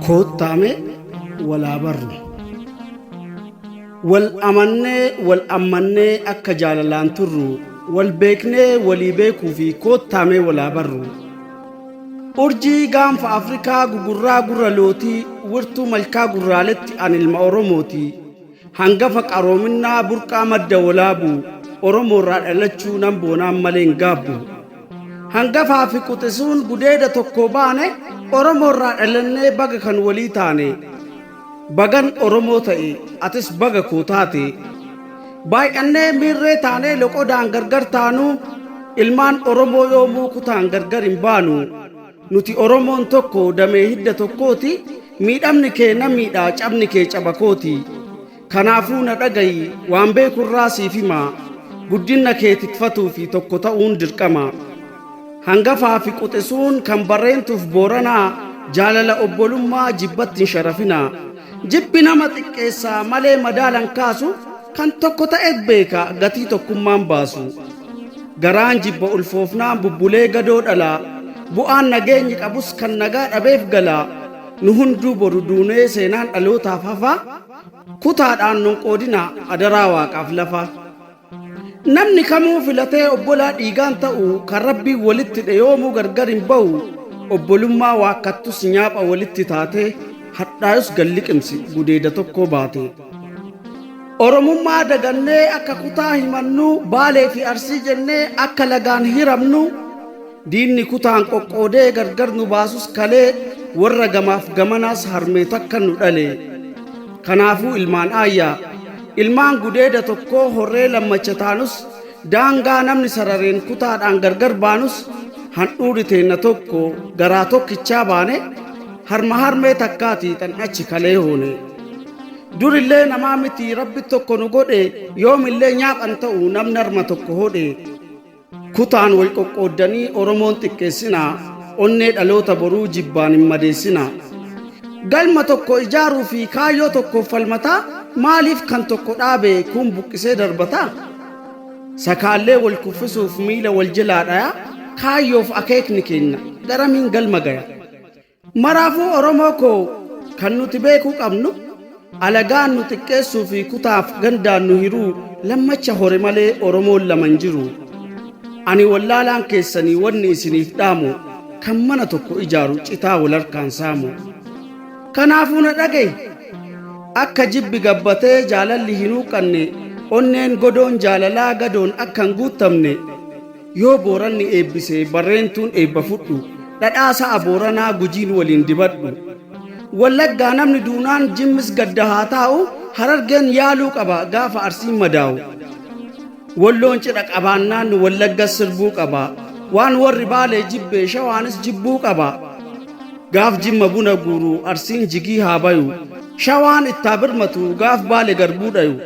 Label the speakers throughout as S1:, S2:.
S1: koottaame walaa barru wal amannee wal ammannee akka jaalalaan turru wal beeknee walii beekuu fi koottaamee walaa barru urjii gaanfa afrikaa gugurraa gurra lootii wirtuu malkaa gurraaletti an ilma oromooti Hangafa qaroominnaa burqaa madda wolaabu Oromoorraa dhalachuu nan boonaan malee hin gaabbu. Hangafaa fi quxisuun gudeeda tokkoo baane Oromoorraa dhalannee baga kan walii taane. Bagan Oromoo ta'e atis baga koo taate. Baay'annee miirree taanee loqodaan gargar taanuu ilmaan Oromoo yoomuu kutaan gargar hin baanu. Nuti Oromoon tokko damee hidda tokkooti, miidhamni kee na miidha, cabni kee caba kooti. Kanaafuu na dhagayi, waan beeku irraa siif hima, guddinna kee tikfatuu fi tokko ta'uun dirqama. Hangafaa fi quxisuun kan Barreentuuf Booranaa, jaalala obbolummaa jibbatti hin sharafinaa. Jibbi nama xiqqeessa malee madaalan kaasu kan tokko ta'e beeka gatii tokkummaan baasu. Garaan jibba ulfoofnaan bubbulee gadoo dhalaa bu'aan nageenyi qabus kan nagaa dhabeef galaa nu hunduu boru duunee seenaan dhalootaaf hafaa kutaadhaan nun qoodinaa adaraa waaqaaf lafaa. Namni kamuu filatee obbolaa dhiigaan ta'u kan Rabbiin walitti dheyoomuu gargar hin ba'u obbolummaa waakkattus nyaapha walitti taate hadhaayus gad liqimsi gudeeda tokkoo baate. Oromummaa dagannee akka kutaa himannuu baalee fi arsii jennee akka lagaan hiramnu Diinni kutaan qoqqoodee gargar nu baasus kalee warra gamaaf gamanaas harmee takka nu dhale. Kanaafuu ilmaan aayyaa, ilmaan gudeeda tokkoo horree lammacha taanus daangaa namni sarareen kutaadhaan gargar baanus handhuurri teenna tokko garaa tokkichaa baane harma harmee takkaatii tan achi kalee hoone. Durillee namaa miti rabbi tokko nu godhe yoomillee nyaaphan ta'u namni harma tokko hodhe. Kutaan wal qoqqooddanii Oromoon xiqqeessinaa, onnee dhaloota boruu jibbaan hin madeessinaa. Galma tokko ijaaruu fi kaayyoo tokkoof falmataa, maaliif kan tokko dhaabe kuun buqqisee darbataa? Sakaallee wal kuffisuuf miila wal jelaa dhayaa, kaayyoof akeekni keenna garamiin galma gaya? Maraafuu Oromoo koo kan nuti beekuu qabnu alagaan nu xiqqeessuu fi kutaaf gandaan nu hiruu lammacha hore malee Oromoon lama hin jiru. Ani wallaalaan keessanii wanni isiniif dhaamu kan mana tokko ijaaru citaa wal harkaan saamu. Kanaafuu na dhagahi! Akka jibbi gabbatee jaalalli hin huuqqanne, onneen godoon jaalalaa gadoon akka hin guuttamne, Yoo Booranni eebbise Barreentuun eebba fudhu. Dhadhaa sa'a Booranaa Gujiin waliin dibadhu. Wallaggaa namni duunaan Jimmis gadda haa taa'u, Harargeen yaaluu qaba gaafa Arsiin madaa'u. Walloon cidha qabaannaan Wallaggas sirbuu qaba, Waan warri Baalee jibbe Shawaanis jibbuu qaba. Gaaf Jimma buna guuru Arsiin jigii haa bayu, Shawaan ittaa birmatu gaaf Baale garbuu dhayu.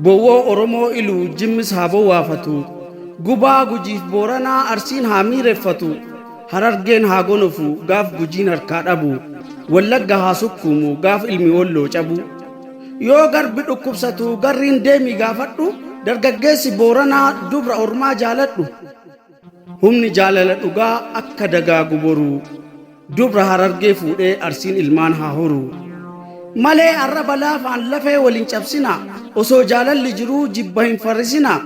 S1: Bowwoo Oromoo Iluu Jimmis haa bowwaafatu. Gubaa Gujiif Booranaa Arsiin haa miireffatu. Harargeen haa gonofu gaaf Gujiin harkaa dhabu. Wallagga haa sukkuumu gaaf ilmi Wolloo cabu. Yoo garbi dhukkubsatu garriin deemii gaafadhu. Dargaggeessi Booranaa dubra ormaa jaaladhu. Humni jaalala dhugaa akka dagaagu boruu. Dubra harargee fuudhee arsiin ilmaan haa horuu. Malee arraba laafaan lafee wal hin cabsinaa. Osoo jaalalli jiruu jibba hin farrisinaa.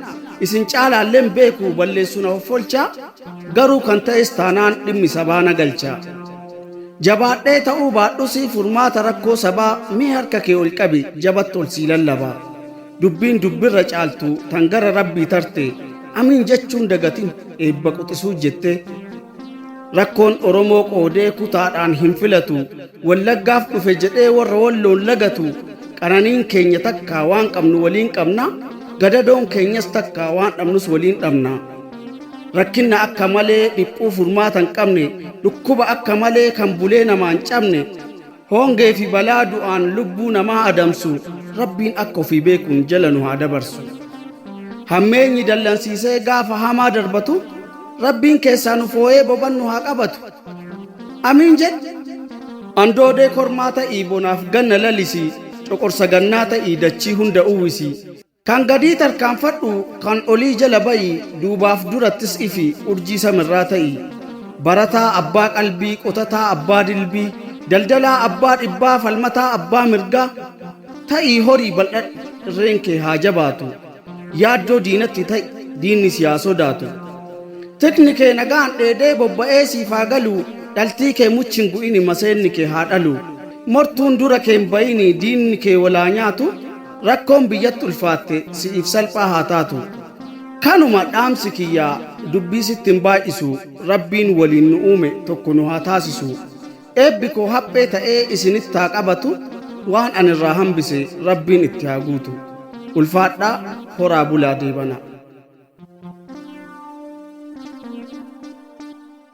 S1: Isin caalaalleen beeku balleessuun hoffolchaa. Garuu kan ta'es taanaan dhimmi sabaa na galchaa. Jabaadhee ta'uu baadhusii furmaata rakkoo sabaa mee harka kee ol qabi jabatti ol sii lallabaa. Dubbiin dubbirra caaltu tan gara Rabbii tarte amiin jechuun dagatin eebba quxisuu jette. Rakkoon Oromoo qoodee kutaadhaan hin filatu. Wallaggaaf dhufe jedhee warra walloon lagatu. Qananiin keenya takkaa waan qabnu waliin qabna. Gadadoon keenyas takkaa waan dhabnus waliin dhabna. Rakkinna akka malee dhiphuu furmaata hin qabne. Dhukkuba akka malee kan bulee namaan cabne. Hongee fi balaa du'aan lubbuu namaa adamsu Rabbiin akka ofii beekuun jala nu haa dabarsu. Hammeenyi dallansiisee gaafa hamaa darbatu Rabbiin keessaa nu fooyee boban nu haa qabatu. Amiin jedhi. Andoodee kormaa ta'ii bonaaf ganna lalisii, coqorsa gannaa ta'ii dachii hunda uwwisii. Kan gadii tarkaanfadhu, kan olii jala ba'i, duubaaf durattis ifi, urjii samirraa ta'i. Barataa abbaa qalbii, qotataa abbaa dilbii, daldalaa abbaa dhibbaa, falmataa abbaa mirgaa, ta'ii horii bal'adhu, irreen kee haa jabaatu. Yaaddoo diinatti ta'i, diinni si haa sodaatu. Tikni kee nagaan dheedee bobba'ee siif haa galu, dhaltii kee muchi hin gu'ini maseenni kee haa dhalu. Mortuun dura kee hin ba'ini, diinni kee wal haa nyaatu, rakkoon biyyatti ulfaatte si'iif salphaa haa taatu. Kanuma dhaamsi kiyya dubbii sitti hin baay'isu rabbiin waliin nu uume tokko nu haa taasisu. Eebbi koo haphee ta'ee isinitti haa qabatu waan ani irraa hambise rabbiin itti haa guutu. Ulfaadhaa horaa bulaa deebana.